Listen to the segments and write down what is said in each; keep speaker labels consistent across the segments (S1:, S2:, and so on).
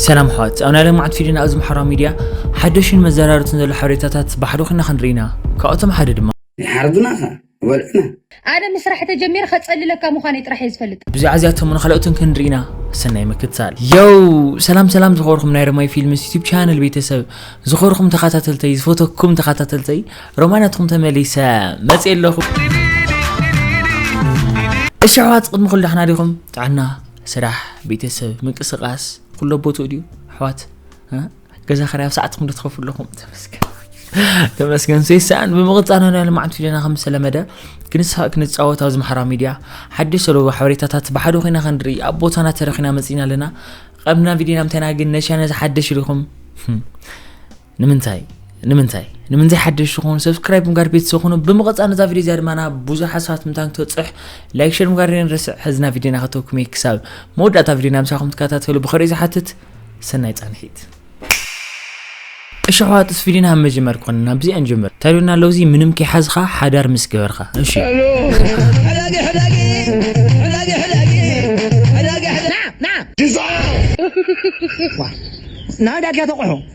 S1: ሰላም ኣሕዋት ኣብ ናይ ለማዕት ፊድዮና ኣብዚ ማሕበራዊ ሚድያ ሓደሽን መዘራርትን ዘሎ ሓበሬታታት ብሓደ ኮይና ክንርኢ ኢና ካብኣቶም ሓደ ድማ ይሓርዱና ከ
S2: ይበልዑና ኣነ ምስራሕ
S3: ተጀሚረ ከጸልለካ ምዃነይ ጥራሕ እየ ዝፈልጥ። ብዛዕባ እዚኣቶም ንካልኦትን
S1: ክንርኢ ኢና ሰናይ ምክትታል የው ሰላም ሰላም ዝኸበርኩም ናይ ረማይ ፊልምስ ዩቲብ ቻነል ቤተሰብ ዝኸበርኩም ተኸታተልተይ ዝፈተኩም ተኸታተልተይ ሮማይ ናትኩም ተመሊሰ መፅ ኣለኹ እሺ ኣሕዋት ቅድሚ ኩሉ ዳሕና ዲኹም ጥዕና ስራሕ ቤተሰብ ምንቅስቃስ ኩሎ ቦትኡ ድዩ ኣሕዋት ገዛ ክራይ ኣብ ሰዓትኩም ዶ ትኸፍሉ ኣለኹም ተመስገን ተመስገን ሰይሰኣን ብምቕፃል ናይ ልምዓት ፊደና ከም ዝተለመደ ክንስሓ ክንፃወት ኣብዚ ማሕበራዊ ሚድያ ሓድሽ ሰለዎ ሓበሬታታት ብሓደ ኮይና ክንርኢ ኣብ ቦታና ተረኺና መፂና ኣለና ቀብና ቪድዮና ምንታይና ግን ነሻ ነዚ ሓደሽ ኢልኹም ንምንታይ ንምንታይ ንምንታይ ሓደሽ ኾኑ ሰብስክራይብ ምጋር ቤተሰብ ኹኑ ብምቕፃ ነዛ ቪድዮ እዚኣ ድማ ናብ ብዙሕ ሓሳባት ምታን ክትበፅሕ ላይክ ሸር ምጋር ንርስዕ ሕዝና ቪድዮ ናኸተውኩም እየ ክሳብ መወዳእታ ቪድዮ ናብ ምሳኹም ትከታተሉ ብኸሪእ ዝሓትት ሰናይ ፃንሒት እሺ ኣሕዋት እስ ቪድዮና ኣብ መጀመር ኮነ ናብዚኣ ንጀምር ታሪዮና ኣለዉ እዚ ምንም ከይሓዝኻ ሓዳር ምስ ገበርካ እሺ
S4: ናዳድካ ተቑሑ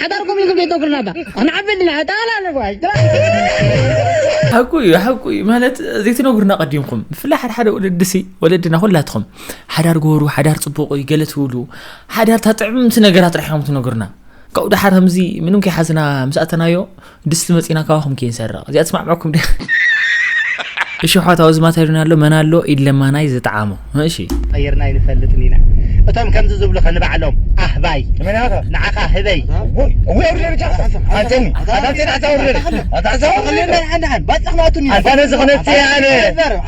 S4: ሓዳር ኩምልኩም ዘይተኩርና እባ ኣንዓቢ ኣለና ኣጣላ ነጓይ ሓቁ እዩ ሓቁ እዩ ማለት ዘይትነግሩና ቀዲምኩም ብፍላይ ሓደ ሓደ ወለዲ ሲ ወለድና ኩላትኹም ሓዳር ጎሩ ሓዳር ፅቡቅ እዩ ገለ ትብሉ ሓዳር ታጥዕምቲ ነገራት ጥራሕ እዮም ትነግሩና ካብኡ ደሓር ከምዚ ምንም ከይሓዝና ምስ ኣተናዮ ድስቲ መጺና ካባኹም ከይንሰርቕ እዚኣ ትስማዕምዐኩም ድ እሽሖት ኣብዚ ማተሪና ኣሎ መን ኣሎ ኢድ ለማናይ ዝጠዓሞ እሺ ቀይርና ኣይንፈልጥን ኢና እቶም ከምዚ ዝብሉኸ ንባዕሎም ኣህባይ ንዓኻ ህበይ ኣነ ዝኽነትየ ኣነ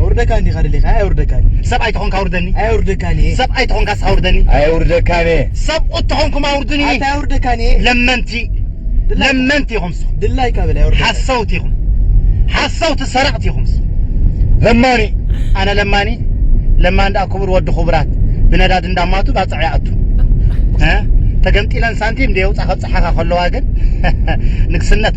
S4: ኣውርደካን ዲኻ ደሊኻ ኣየውርደካን ሰብኣይ ተኾንካ ኣውርደኒ ኣየውርደካን እየ ሰብኣይ ተኾንካስ ኣውርደኒ ኣየውርደካን እየ ሰብኡት ተኾንኩም ኣውርዱኒ ኣታ ኣየውርደካን እየ ለመንቲ ለመንቲ ኢኹም ንስኹም ድላይ ካበል ኣየውርደካን ሓሰውቲ ኢኹም ሓሰውቲ ሰረቕቲ ኢኹም ንስኹም ለማኒ ኣነ ለማኒ ለማኒ ደኣ ክቡር ወዲ ክቡራት ብነዳዲ እንዳማቱ ባፅዕ ይኣቱ እ ተገምጢለን ሳንቲም እንደ የውፃ ከብፅሓኻ ከለዋ ግን ንግስነት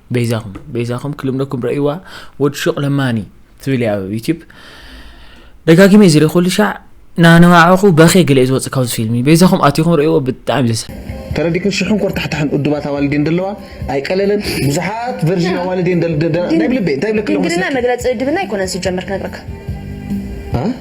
S1: በይዛኹም በይዛኹም ክልምደኩም ረእይዋ ወድ ሹቕ ለማኒ ትብል እያ ኣብ ዩቲዩብ ደጋጊመ እዩ ዝሪኦ ኩሉ ሻዕ ናነዋዕኹ በኼ ገለ እዩ ዝወፅእ ካብዚ ፊልሚ በይዛኹም ኣቲኹም ረእይዎ ብጣዕሚ ዘሰ ተረዲክን ሽሕን
S5: ኮርታሕታሕን እዱባት ኣዋልድ እየን ደለዋ ኣይቀለለን ብዙሓት ቨርዥን ኣዋልድ እየን ናይ ብልበይ እንታይ ብለክለ ድንግልና መግለፂ እድብና
S3: ኣይኮነን ሲጀመር ክነግረካ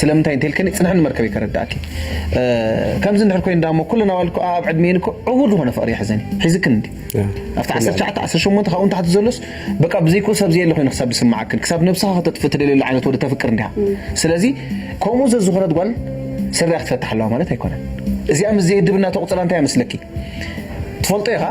S5: ስለምንታይ እንተልክኒ ጽንሕኒ መርከበይ ከረዳእኪ ከምዚ እንድሕር ኮይኑ ዳሞ ኩልና ዋልኩ ኣብ ዕድሜን እኮ ዕውር ዝኾነ ፍቕሪ ይሕዘኒ ሒዝክን እንዲ ኣብቲ 19 19 ካብኡ ንታሕቲ ዘሎስ በቃ ብዘይክኡ ሰብ ዘየለ ኮይኑ ክሳብ ዝስምዓክን ክሳብ ነብስኻ ከተጥፍ ትደልየሉ ዓይነት ወዲ ተፍቅር እንዲኻ ስለዚ ከምኡ ዘዝኾነት ጓል ስርያ ክትፈትሕ ኣለዋ ማለት ኣይኮነን እዚኣ ምስ ዘየድብና ተቑጽራ እንታይ መስለኪ ትፈልጦ ኢኻ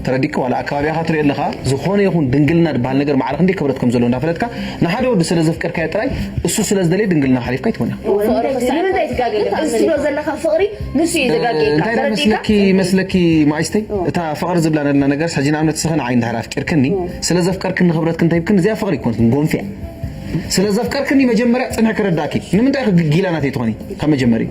S5: ተረዲእካ ዋላ ኣብ ከባቢኻ ትሪኦ ኣለኻ ዝኾነ ይኹን ድንግልና ድበሃል ነገር ማዕረ ክንደይ ክብረት ከም ዘለዎ እንዳፈለጥካ ንሓደ ወዲ ስለ ዘፍቀርካዮ ጥራይ እሱ ስለ ዝደለየ ድንግልና ሓሊፍካ ኣይትመና ፍቅሪ ክሳዕ ንምንታይ
S3: ትጋገየካ እዚ ትብሎ ዘለኻ ፍቅሪ ንሱ እዩ ዘጋገየካ እንታይ ዳ ተረዲእካ መስለኪ መስለኪ
S5: ማኣይስተይ እታ ፍቅሪ ዝብላ ነልና ነገርስ ሕጂ ንኣብነት ንስኺ ንዓይ እንድሕር ኣፍቂርክኒ ስለ ዘፍቀርክኒ ክብረት እንተ ሂብክኒ እዚኣ ፍቅሪ ኣይኮነትን ጎንፊ እያ ስለ ዘፍቀርክኒ መጀመርያ ጽንሒ ክረዳእኪ ንምንታይ ኢኺ ግጊላ ናተይ ትኾኒ ካብ መጀመርይኡ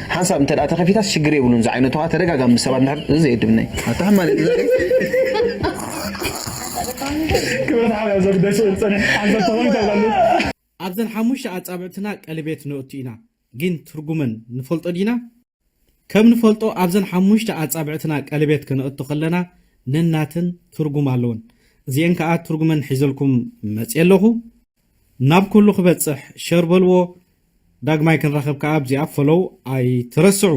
S5: ሓንሳብ እንተ ተኸፊታስ ሽግር የብሉን ዝዓይነቱ ከዓ ተደጋጋሚ ምስ ሰባት ንድሕር እዚ ዘየድብነይ ኣታሕ ማለት
S4: ክብረት ሓብያ ዘግደሽ ፅንሕ ሓንሳብ ተኸፊት ኣይላለስ ኣብዘን ሓሙሽተ
S6: ኣጻብዕትና ቀልቤት ነእቱ ኢና፣ ግን ትርጉመን ንፈልጦ ዲና? ከም ንፈልጦ ኣብዘን ሓሙሽተ ኣጻብዕትና ቀልቤት ከነእቱ ከለና ነናተን ትርጉም ኣለወን። እዚኤን ከኣ ትርጉመን ሒዘልኩም መጽየ ኣለኹ። ናብ ኩሉ ክበጽሕ ሸር በልዎ ዳግማይ ክንራከብ ከኣ ኣብዚኣ ፈሎው ኣይትረስዑ።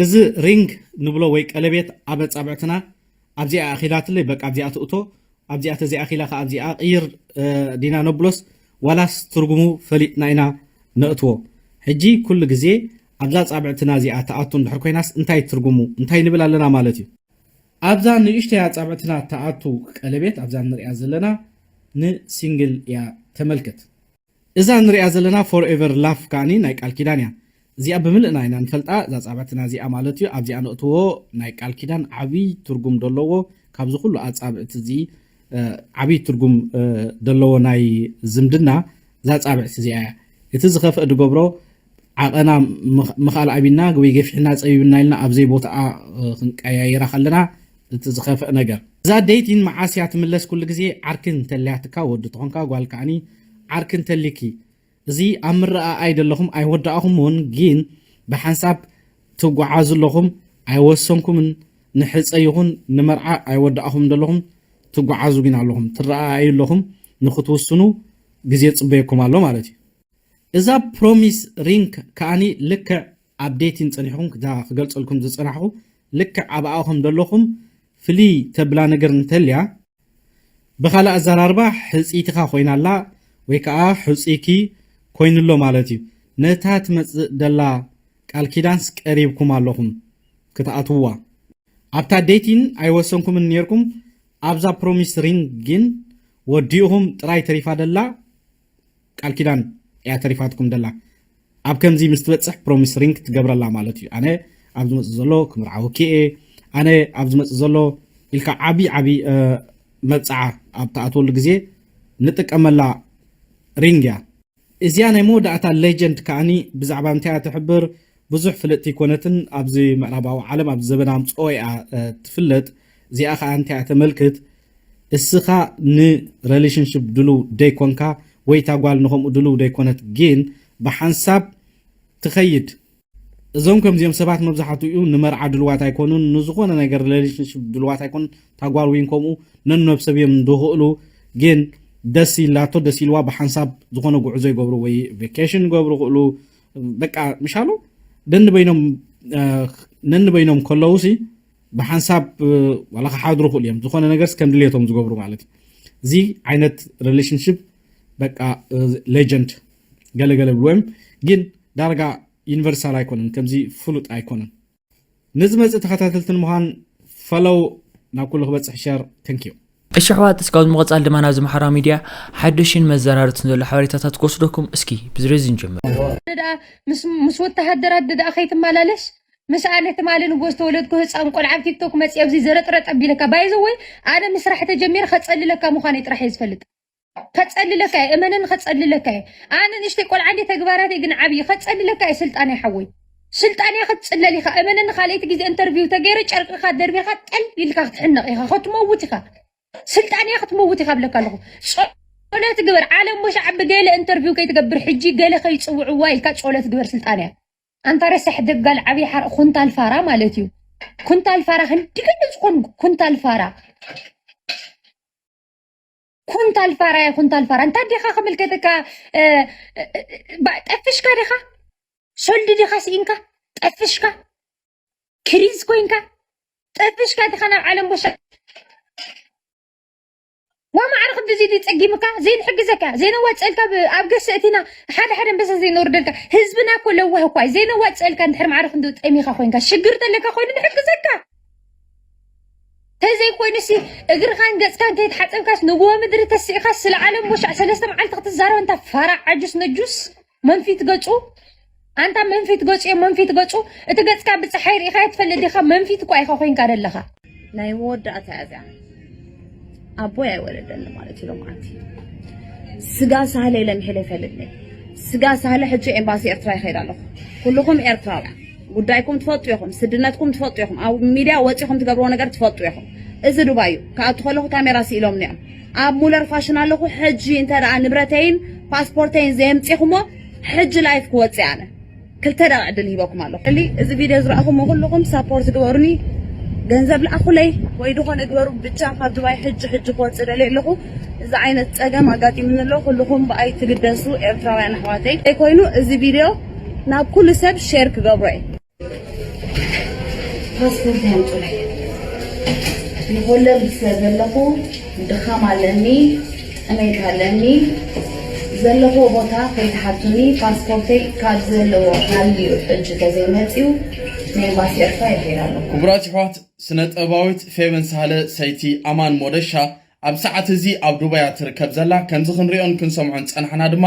S6: እዚ ሪንግ ንብሎ ወይ ቀለቤት ኣብ ኣጻብዕትና ኣብዚኣ ኣኪላትለይ በቃ ኣብዚኣ ትእቶ ኣብዚኣ ተዘይኣኪላ ከኣ ኣብዚኣ ቅይር ዲና ነብሎስ ዋላስ ትርጉሙ ፈሊጥና ኢና ነእትዎ ሕጂ ኩሉ ግዜ ኣብዛ ኣጻብዕትና እዚኣ ትኣቱ እንድሕር ኮይናስ እንታይ ትርጉሙ እንታይ ንብል ኣለና ማለት እዩ ኣብዛ ንእሽተይ ኣጻብዕትና ትኣቱ ቀለቤት ኣብዛ ንሪኣ ዘለና ን ሲንግል እያ ተመልከት። እዛ ንሪኣ ዘለና ፎር ኤቨር ላፍ ከኣ ናይ ቃል ኪዳን እያ እዚኣ ብምልእና ኢና ንፈልጣ እዛ ኣጻብዕትና እዚኣ ማለት እዩ ኣብዚኣ ነእትዎ ናይ ቃል ኪዳን ዓብይ ትርጉም ደለዎ ካብዚ ኩሉ ኣጻብዕቲ እዚ ዓብይ ትርጉም ደለዎ ናይ ዝምድና እዛ ኣጻብዕቲ እዚኣ እያ እቲ ዝኸፍእ ድገብሮ ዓቐና ምኽኣል ኣቢና ወይ ገፊሕና ጸቢብና ኢልና ኣብ ዘይቦትኣ ክንቀያይራ ከለና እቲ ዝኸፍእ ነገር። እዛ ደይቲን መዓስ እያ ትምለስ ኩሉ ግዜ ዓርኪ እንተልያትካ ወዲ ተኾንካ ጓል ከኣኒ ዓርኪ እንተልይኪ እዚ ኣብ ምርኣኣይ ደለኹም ኣይወዳእኹምዎን ጊን ብሓንሳብ ትጉዓዙ ኣለኹም ኣይወሰንኩምን ንሕጸ ይኹን ንመርዓ ኣይወዳእኹምን ደለኹም ትጉዓዙ ጊን ኣለኹም ትረኣኣዩ ኣለኹም ንኽትውስኑ ግዜ ጽበየኩም ኣሎ ማለት እዩ። እዛ ፕሮሚስ ሪንክ ከኣኒ ልክዕ ኣብ ዴቲን ጸኒሕኩም እታ ክገልጸልኩም ዝጸናሕኩ ልክዕ ኣብኣ ከም ደለኹም ፍልይ ተብላ ነገር እንተልያ ብኻልእ ኣዘራርባ ሕጽይትኻ ኮይና ኣላ ወይ ከኣ ሕጹይኪ ኮይኑ ኣሎ ማለት እዩ ነታ ትመጽእ ደላ ቃል ኪዳንስ ቀሪብኩም ኣለኹም ክትኣትውዋ ኣብታ ዴቲን ኣይወሰንኩምን ኔርኩም ኣብዛ ፕሮሚስ ሪንክ ግን ወዲእኹም ጥራይ ተሪፋ ደላ ቃል ኪዳን እያ ተሪፋትኩም ደላ ኣብ ከምዚ ምስ ትበጽሕ ፕሮሚስ ሪንግ ትገብረላ ማለት እዩ ኣነ ኣብ ዝመጽእ ዘሎ ክምርዓወኪ እየ ኣነ ኣብ ዝመጽእ ዘሎ ኢልካ ዓብዪ ዓብዪ መብጽዓ ኣብ ትኣትወሉ ግዜ ንጥቀመላ ሪንግ እያ እዚኣ ናይ መወዳእታ ሌጀንድ ከዓኒ ብዛዕባ እንታይ እያ ትሕብር ብዙሕ ፍልጥቲ ኣይኮነትን ኣብዚ ምዕራባዊ ዓለም ኣብዚ ዘበና ኣምጽኦ እያ ትፍለጥ እዚኣ ከዓ እንታይ እያ ተመልክት እስኻ ን ረሊሽንሽፕ ድሉው ደይኮንካ ወይ እታ ጓል ንከምኡ ድልው ደይኮነት ጊን ብሓንሳብ ትከይድ። እዞም ከምዚኦም ሰባት መብዛሓቱኡ ንመርዓ ድልዋት ኣይኮኑን ንዝኮነ ነገር ለሊሽንሽፕ ድልዋት ኣይኮኑን እታ ጓል ዊን ከምኡ ነኖብሰብ እዮም ድክእሉ ጊን ደስ ኢላቶ ደስ ኢልዋ ብሓንሳብ ዝኮነ ጉዕዞ ይገብሩ ወይ ቬኬሽን ይገብሩ ክእሉ በቃ ምሻሉ ደንበይኖም ነንበይኖም ከለውሲ ብሓንሳብ ዋላ ክሓድሩ ይኽእሉ እዮም ዝኾነ ነገርስ ከም ድሌቶም ዝገብሩ ማለት እዩ እዚ ዓይነት ሪሌሽንሽፕ በቃ ሌጀንድ ገለገለ ብልዎ እዮም ግን ዳርጋ ዩኒቨርሳል ኣይኮነን ከምዚ ፍሉጥ ኣይኮነን ንዝመፅእ ተኸታተልቲ ንምዃን ፈለው ናብ ኩሉ ክበፅሕ ሸር ተንክዩ እሺ ኣሕዋት እስካብ
S1: ንምቕፃል ድማ ናብዚ ማሕበራዊ ሚድያ ሓዱሽን መዘራርትን ዘሎ ሓበሬታታት ክወስደኩም እስኪ ብዝሬዚ ንጀምር ደኣ
S7: ምስ ወተሃደራት ደኣ ከይትመላለስ ምስኣ ነቲ ማሊ ንጎ ዝተወለድኩ ህጻን ቆልዓ ኣብ ቲክቶክ መጺ ኣብዚ ዘረጥረጥ ኣቢለካ ባይ ዘወይ ኣነ ምስራሕ ተጀሚረ ከጸልለካ ምዃነይ ጥራሕ እየ ዝፈልጥ ከጸልለካ እየ እመነኒ ከጸልለካ እየ ኣነ ንእሽተይ ቆልዓ እንደ ተግባራተይ ግን ዓብዪ ከጸልለካ እየ ስልጣን እየ ሓወይ ስልጣን እያ ክትጽለል ኢኻ እመነኒ ካልኣይቲ ግዜ ኢንተርቪው ተገይረ ጨርቅኻ ደርቢኻ ጠል ኢልካ ክትሕነቕ ኢኻ ክትመውት ኢኻ ስልጣን እያ ክትመውት ኢኻ ብለካ ኣለኹ ጸሎት ግበር ዓለም ወሻዕ ብገለ ኢንተርቪው ከይትገብር ሕጂ ገለ ከይጽውዕዋ ኢልካ ጸሎት ግበር ስልጣን እያ ኣንታ ረሳሕ ደጋል ዓብይ ሓርእ ኩንታል ፋራ ማለት እዩ ኩንታል ፋራ ክንዲ ገለ ዝኮን ኩንታል ፋራ ኩንታል ፋራ ያ ኩንታል ፋራ እንታይ ዲኻ ክምልከተካ ጠፍሽካ ዲኻ ሶልዲ ዲኻ ስኢንካ ጠፍሽካ ክሪዝ ኮይንካ ጠፍሽካ ዲኻ ናብ ዓለም ቦሻ ወማዕረ ክንድዚ ድዩ ጸጊምካ ዘይንሕግዘካ ዘይነዋጽእልካ ብ- ኣብ ገሰ እቲና ሓደ ሓደ ኣንበሳ ዘይንወርደልካ ህዝብና እኮ ለዋህ እኳ እዩ ዘይነዋጽእልካ እንድሕር ማዕረ ክንዲ ጠሚኻ ኮይንካ ሽግር ተለካ ኮይኑ ንሕግዘካ ተዘይኮይኑ ሲ እግርኻን ገጽካን ከይተሓጸብካስ ንጉሆ ምድሪ ተሲእኻስ ስለ ዓለም ቦሻዕ ሰለስተ መዓልቲ ክትዛረብ እንታ ፋራ ዓጁስ ነጁስ መንፊት ገጹ ኣንታ መንፊት ገጹ እየ መንፊት ገጹ እቲ ገጽካ ብፀሓይ ርኢኻዮ ትፈልጥ ዲኻ መንፊት እኳ ኢኻ ኮንካ ደለኻ ናይ መወዳእታ
S3: እያ እዚኣ ኣቦይ ኣይወለደኒ ማለት እዩ ሎማዓንቲ ስጋ ሳህለ ኢለ ምሒለ ይፈልጥ ነይ ስጋ ሳህለ ሕጂ ኤምባሲ ኤርትራ ይኸይድ ኣለኹ ኩልኹም ኤርትራውያን ጉዳይኩም ትፈልጡ ኢኹም፣ ስድነትኩም ትፈልጡ ኢኹም፣ ኣብ ሚድያ ወጺኹም ትገብርዎ ነገር ትፈልጡ ኢኹም። እዚ ዱባይ እዩ። ክኣቱ ከለኹ ካሜራ ስኢሎምኒ እዮም። ኣብ ሙለር ፋሽን ኣለኹ። ሕጂ እንተ ደኣ ንብረተይን ፓስፖርተይን ዘየምጺኹሞ ሕጂ ላይፍ ክወጽእ ኣነ ክልተ ደቂቕ ዕድል ሂበኩም ኣለኹ። እሊ እዚ ቪድዮ ዝረኣኹሞ ኩሉኹም ሳፖርት ግበሩኒ፣ ገንዘብ ልኣኹለይ ወይ ዝኾነ ግበሩ ብቻ ካብ ዱባይ ሕጂ ሕጂ ክወጽእ ደልየ ኣለኹ። እዚ ዓይነት ጸገም ኣጋጢሙኒ ኣሎ። ኩሉኹም ብኣይ ትግደሱ ኤርትራውያን ኣሕዋተይ። ዘይኮይኑ እዚ ቪድዮ ናብ ኩሉ ሰብ ሼር ክገብሮ እየ። ፓስፖርት ኣምጹለይ ንሆለንድ ስለ ዘለኹ ድኻም ኣለኒ ጥሜት ኣለኒ ዘለኽዎ ቦታ ከይትሓቱኒ ፓስፖርተይ ካብ ዘለዎ ሃልዩ ሕጂ ተዘይ መጽዩ ንኤምባሲ ኤርትራ ይኸይድ ኣለኹ።
S6: ክቡራት የሕዋት ስነጥበባዊት ፌቨን ሳህለ ሰይቲ ኣማን ሞደሻ ኣብ ሰዓት እዚ ኣብ ዱባይ እያ ትርከብ ዘላ። ከምዚ ክንሪኦን ክንሰምዖን ዝጸናሕና ድማ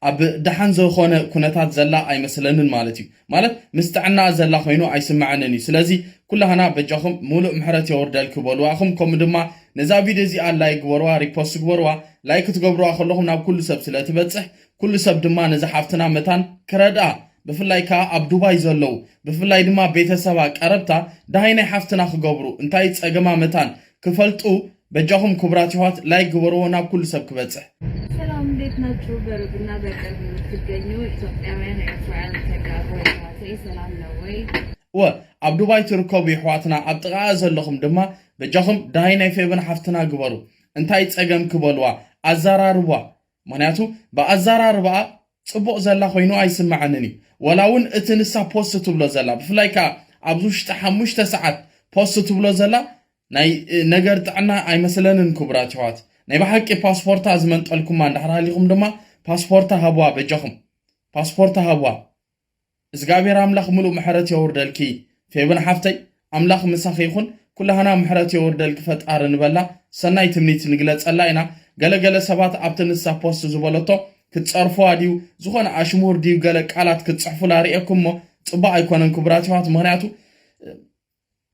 S6: ኣብ ደሓን ዘኮነ ኩነታት ዘላ ኣይመስለንን ማለት እዩ። ማለት ምስ ጥዕናኣ ዘላ ኮይኑ ኣይስመዐንን እዩ። ስለዚ ኩላህና በጃኩም ሙሉእ ምሕረት የውርደልኪ በልዋ እኹም ከምኡ ድማ ነዛ ቪድዮ እዚኣ ላይክ ግበርዋ ሪፖስት ግበርዋ ላይክ ክትገብርዋ ከለኹም ናብ ኩሉ ሰብ ስለ ትበጽሕ ኩሉ ሰብ ድማ ነዛ ሓፍትና መታን ክረድኣ ብፍላይ ከኣ ኣብ ዱባይ ዘለዉ ብፍላይ ድማ ቤተሰባ ቀረብታ ደሃይ ናይ ሓፍትና ክገብሩ እንታይ ጸገማ መታን ክፈልጡ በጃኹም ኩቡራት የሕዋት ላይክ ግበርዎ ናብ ኩሉ ሰብ ክበጽሕ። ሰላም እንዴት
S3: ናችሁ? በሩቅና በቅርብ የምትገኙ ኢትዮጵያውያን ኤርትራውያን ተጋሩ የሕዋተይ ሰላም ነው ወይ? እወ ኣብ
S6: ዱባይ ትርከቡ የሕዋትና ኣብ ጥቃኣ ዘለኹም ድማ በጃኹም ዳሃይ ናይ ፌበን ሓፍትና ግበሩ እንታይ ጸገምኪ በልዋ ኣዛራርብዋ ምክንያቱ ብኣዛራርባኣ ጽቡቅ ዘላ ኮይኑ ኣይስመዐንን እዩ ወላ ውን እቲ ንሳ ፖስት ትብሎ ዘላ ብፍላይ ከኣ ኣብዚ ውሽጢ ሓሙሽተ ሰዓት ፖስት ትብሎ ዘላ ናይ ነገር ጥዕና ኣይመስለንን ክቡራት የሕዋት ናይ ብሓቂ ፓስፖርታ ዝመንጠልኩማ እንድሕር ሃሊኩም ድማ ፓስፖርታ ሃብዋ በጃኩም ፓስፖርታ ሃብዋ እዝጋብሄር ኣምላክ ምሉእ ምሕረት የውርደልኪ ፌበን ሓፍተይ ኣምላክ ምሳኪ ይኩን ኩላህና ምሕረት የውርደልኪ ፈጣሪ ንበላ ሰናይ ትምኒት ንግለጸላ ኢና ገለ ገለ ሰባት ኣብቲ ንሳ ፖስት ዝበለቶ ክትጸርፍዋ ድዩ ዝኮነ ኣሽሙር ድዩ ገለ ቃላት ክትጽሕፉላ ሪኤኩሞ ጽቡቅ ኣይኮነን ክቡራት የሕዋት ምክንያቱ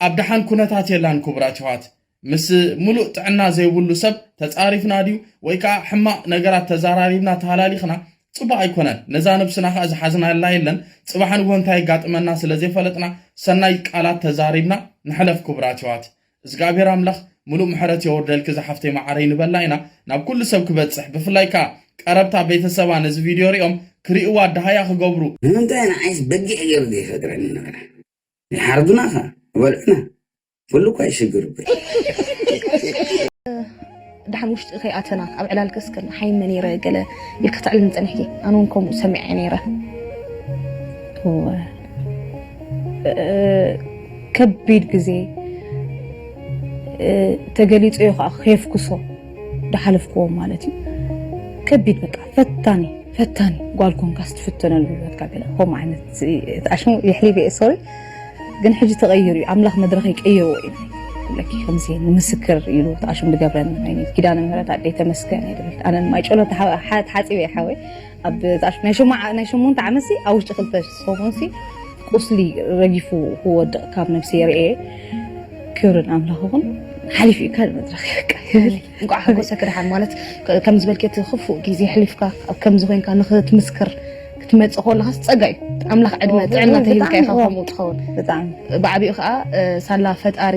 S6: ኣብ ደሓን ኩነታት የላን ኩቡራት የሕዋት ምስ ሙሉእ ጥዕና ዘይቡሉ ሰብ ተጻሪፍና ድዩ ወይ ከኣ ሕማቅ ነገራት ተዛራሪብና ተሃላሊኽና ጽቡቅ ኣይኮነን ነዛ ነብስና ከኣ ዝሓዝናላ የለን ጽባሕ ንግሆ እንታይ የጋጥመና ስለ ዘይፈለጥና ሰናይ ቃላት ተዛሪብና ንሕለፍ ኩቡራት የሕዋት እዝግኣብሄር ኣምላኽ ሙሉእ ምሕረት የውርደልኪ ዝሓፍተይ መዓረይ ንበላ ኢና ናብ ኩሉ ሰብ ክበጽሕ ብፍላይ ከኣ ቀረብታ ቤተሰባ ነዚ ቪድዮ ሪኦም ክሪእዋ ደሃያ ክገብሩ ንምንታይ ንዓይስ
S2: በጊዕ ገይሩ ዘይፈጥረኒ ንበላ። ንሓርዱና ከ በልዑና ኩሉ እኳ ይሽግር ድሓን
S3: ውሽጢ ከይኣተና ኣብ ዕላል ከስከል ሓይመ ነይረ ገለ ኢልክ ክትዕል ንፀኒሕኪ ኣነ እውን ከምኡ ሰሚዐ ነይረ ከቢድ ግዜ ተገሊፁ ዩ ከዓ ከየፍኩሶ ዳሓለፍክዎ ማለት እዩ ከቢድ በቃ ፈታኒ ፈታኒ ጓል ኮንካ ስትፍተነሉ ሂወትካ ገለ ከምኡ ዓይነት እቲ ኣሽሙ የሕሊፈ እየ ሶሪ ግን ሕጂ ተቐይሩ እዩ ኣምላኽ መድረኽ ይቀይርዎ እዩ ለኪ ከምዚ ንምስክር ኢሉ እቲ ኣሽሙ ዝገብረኒ ዓይነት ኪዳነ ምህረት ኣደይ ተመስገን እየ ዝብል ኣነ ማይ ጨሎ ተሓፂበ እየ ሓወይ ኣብ ናይ ሽማዓ ናይ ሸሞንተ ዓመት ሲ ኣብ ውሽጢ ክልተ ሰሙን ሲ ቁስሊ ረጊፉ ክወድቕ ካብ ነብሲ የርእየ ክብሪ ንኣምላኽ ይኹን
S8: ሓሊፉ እዩ ካልእ መድረኽ ይብል እንኳዕ ሓጎሰ ክድሓን ማለት ከም ዝበልኪ እቲ ክፉእ ግዜ ሕሊፍካ ኣብ ከምዚ ኮንካ ንክትምስክር ክትመፅእ ከለኻስ ፀጋ እዩ ኣምላኽ ዕድመ ጥዕና ተሂብካ ኢኻ ከምኡ ትኸውን ብጣዕሚ ብዓቢኡ ከዓ ሳላ ፈጣሪ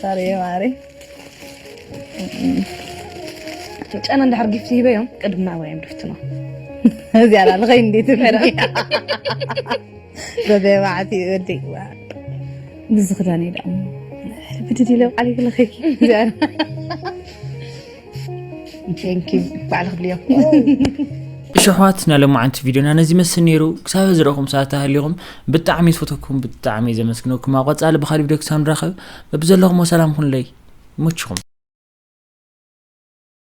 S8: ሳርየ ማሪ ጨና እንድሕር ጊፍቲ ሂበዮም ቅድም ናብራ እዮም ድፍትኖ እዚኣ ላልኸይ እንዴት ፈረ በበባዕቲ ወዲ ብዝኽዳን እዩ ደሞ ብድድ ኢለ ቃል ይክለኸኪ እዚኣ እሺ
S1: ኣሕዋት ናይ ሎማዓንቲ ቪድዮና ነዚ ይመስል ነይሩ ክሳብ ዝረኹም ሰዓት ተሃሊኹም ብጣዕሚ ዝፈተኩም ብጣዕሚ ዘመስግነኩም ኣብ ቐፃሊ ብካሊ ቪድዮ ክሳብ ንራኸብ በብዘለኹም ሰላም ኩንለይ ይመችኹም